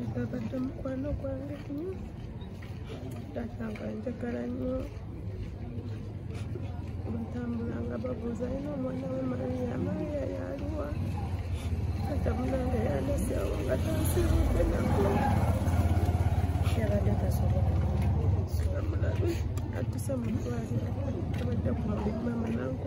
agabadde mukwano gwange nyo taata nga njagala nyo batambula nga babuuza alina omwana we mariya mariya yaliwa taata munange yalesewo nga tansibude nako yabadde tasobola amulabe atuse mutwalira abadde kumabimama nanku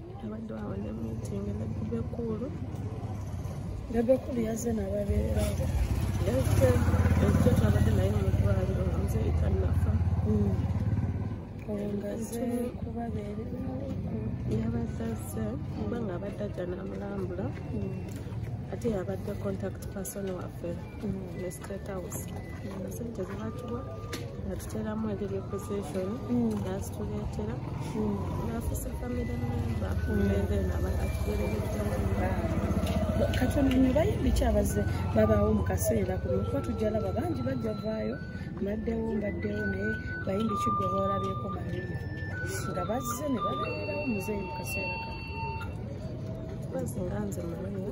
abadde awo ne meeting ne bebekuulu bebekuulu yazze nababeerera yazze ejjo twabadde naye mu ddwaliro nga muze etannafa hmm. ngaze kubabeerera yabazazze kuba nga abadde ajja n'amulambula hmm. ate yabadde contact person waffe hmm. House. Sente zibatuwa natuteramu engeri possession nazituleetera nafusa family member then katonanyo bayimbi kyabaze babaawo mu kaseera kuno kuba tujjalaba bangi bajja vaayo maddewo mbaddewo naye bayimbi kigwe boolabyeko maria nga bazze ne babeerawo muzeeyi mu kaseera kano bazinga nze mumanya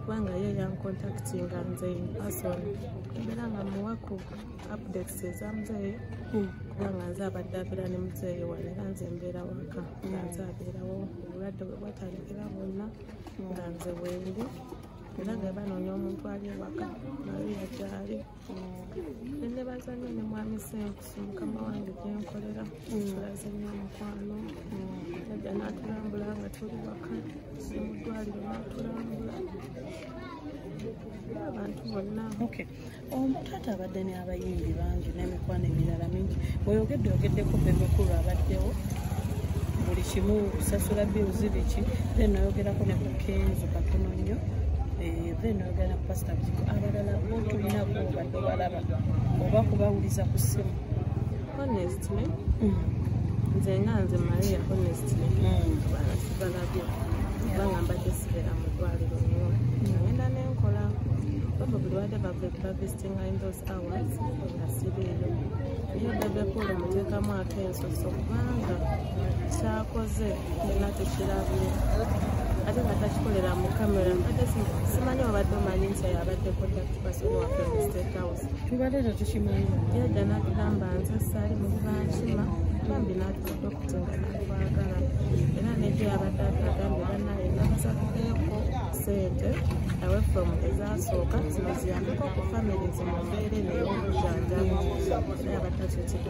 kubanga ye yankontaktinga nze inperson era nga muwaku updates eza muzeeyi hmm. kubanga nze abadde abeera ne muzeeyi wane era nze mbeera waka nga hmm. nze abeerawo obulwadde bwe bwatandikira bwonna nga nze wendi era nga banoonya omuntu ali ewaka naye yakyali nebaza nyo ne mwami senkusu mukama wange gyenkolera tulaze nyo omukwano najja natulambula nga tuli waka nemudwaliro natulambula abantu bonna omutaata um, abadde ne abayimbi bangi nemikwano emirala mingi oyogedde ogeddeko bebekulu abaddewo buli kimu sasula bill zibiki then nayogerako ne kukenzo katono nnyo eh, then ogenda ku pastor biko abalala tulina kubadde obalaba oba kubawuliza ku simu honestly mm. nze nga nze maria honestly mm. balabye kubanga mbadde sibeera mu ddwaliro nyo nagenda nenkola baba buli wadde bavisitinga in those hours nga sibeeyo naye bebekulu muteekamu akensoso kubanga kyakoze nina tekirabye ate nga takikolera mu kamera mbadde simanyi obadde omanyi nti abadde contact person waffe mu state house tubadde tetukimanyi yadda natugamba nze saali mu bankima bambi natukuda okutinga nakwagala era nejo yabadde atagambye banaye namusakukeeko sente awe from ezasooka zino ziyambeko ku family zimumbeere neyo obujanjamu naye abatakyokiga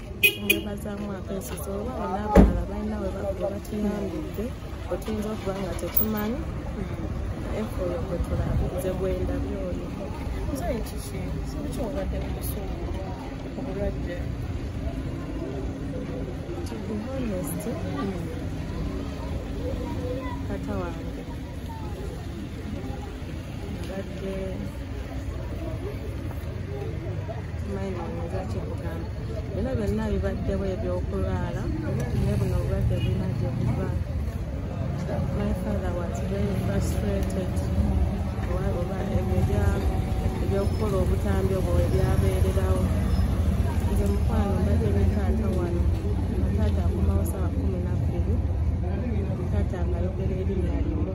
nebazaamu akensozi oba bona abalala balina we bakuba batuyambidde otuyinza okuba nga tetumanyi efuyo gwe tulabe nze gwenda byoyo nze ekiki sibukiwabadde mubusungu obulwadde to be honest kata wange bino byonna bibaddewo ebyokulwala naye buno obulwadde bulina gye buva my father was very frustrated oba ebyo ebyokukola obutambi obwo webyabeererawo nze mukwano mbadde ne taata wano taata akumawo sawa kumi nabbiri taata nga ayogera erinnya limu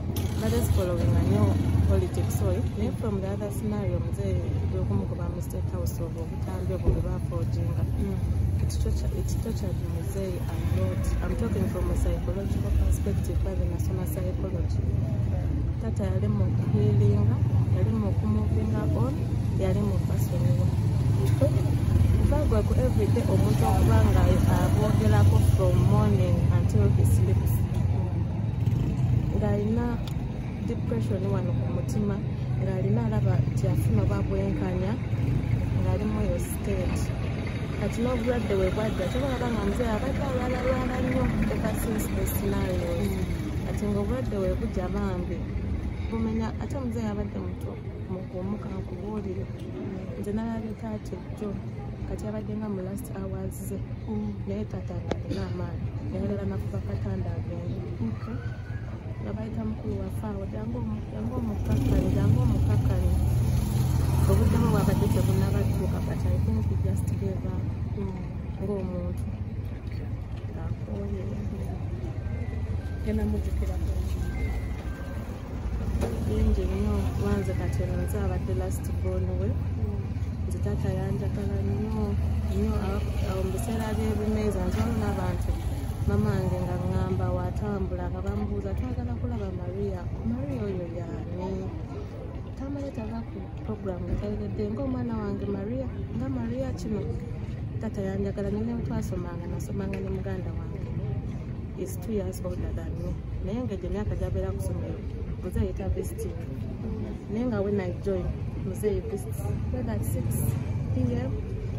That is following a new politics oyo eh? naye from the other scenario mze gwekumugoba mu state house of obutambi obwo bwe bafoojinga mm. ekitokyadi muzeeyi amnot am talking from a psychological perspective babe nasoma psychology tata yali mu healinga yali mu kumuvinga on yali mu basonyiwa bagweku everyday omuntu okuba nga abogerako from morning until he sleeps ng'alina depression wano ku mutima ng'alina alaba nti afuna oba bwenkanya ng'ali mu eyo state kati n'obulwadde we bwadda kyoba laba nga muzee abadde alwalalwala nnyo eka since the scenario kati ng'obulwadde we bujja bambi bumenya ate muzee abadde muto mukuumuka nkubuulire nze nalabika ati jjo kati abadde nga mu last hours ze mm. naye taata ngaalina amaanyi nayagala nakuba katanda agende nga bayita mukulu wafaawo jangu omukakkale jangu omukakkale obuddemu bwabadde tebunabatuuka but i think he just gave up mm. ng'omuntu ngaakoye genda mujukira bingi nnyo banze kati eno nze abadde last born we nze taata yanjagala nnyo nnyo mu biseera byebimeeza nzwamu n'abantu mama wange nga ngamba watambula nga bambuuza twagala kulaba maria maria oyo yani tamale tavaku puroguramu nteredde ngaomwana wange maria nga maria kino tata yanjagala nyo netwasomanga nasomanga ne muganda wange is two years older than me naye nga egyo myaka gyabeera kusomero muzeeyi ta visiting naye nga when i join muzeeyi visits whether at six pm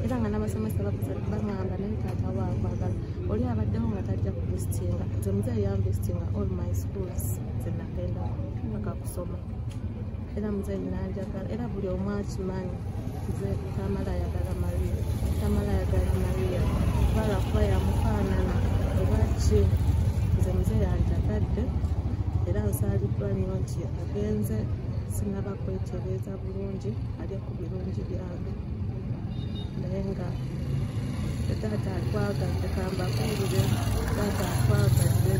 era nga n'abasomesa bagamba naye taata waakwagala oli abaddewo nga tajja kuvisitinga nze muzeeyi yamvisitinga all my schools zenagendako paka kusoma era muze nanjagala era buli omu akimanyi nze tamala ayagala maria tamala ayagala maria kubala kuba yamufaanana ebaki nze muze yanjagadde era nsaaliddwa nnyo nti agenze sinaba kwetereeza bulungi alye ku birungi bya naye nga taata atwagadde kambakuulire taata atwagadde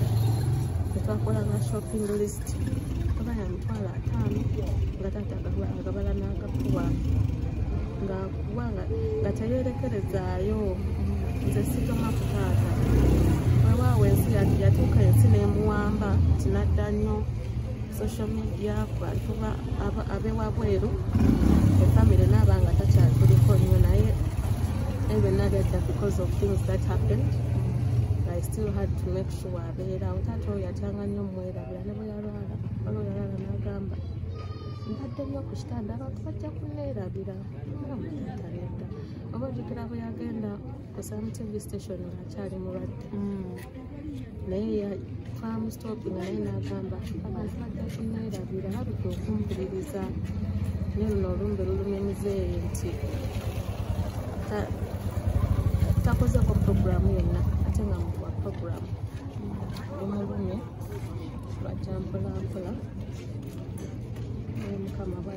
tetwakola nga shopping list oba yamitwalo ataano nga taata agabala n'agakuwa ngakuwa nga teyerekerezaayo nze sitoma ku taata wewaawo ensi yatuuka ensi nemuwamba tinadda nnyo social media kubantuba abewabweru efamily naaba nga takyatuliko nnyo naye ebyonna byadda because of things that happened i still had to make sure abeerawo taata oyo atyanga nnyo mwerabira ne bwe yalwala wala oyalala nagamba mbadde nnyo ku kitanda abantu bajja kuneerabira taata nedda oba ojukira bwe yagenda Some TV station akyali mulwadde mm. naye twamusitopinga naye n'agamba abantu bajja kuneerabira babika okumpuliriza naye luno olumbe lulumya muzeeyi nti takozeko puroguramu yonna ate nga mukuwa puroguramu omulumye lwajja mpolampola naye mukama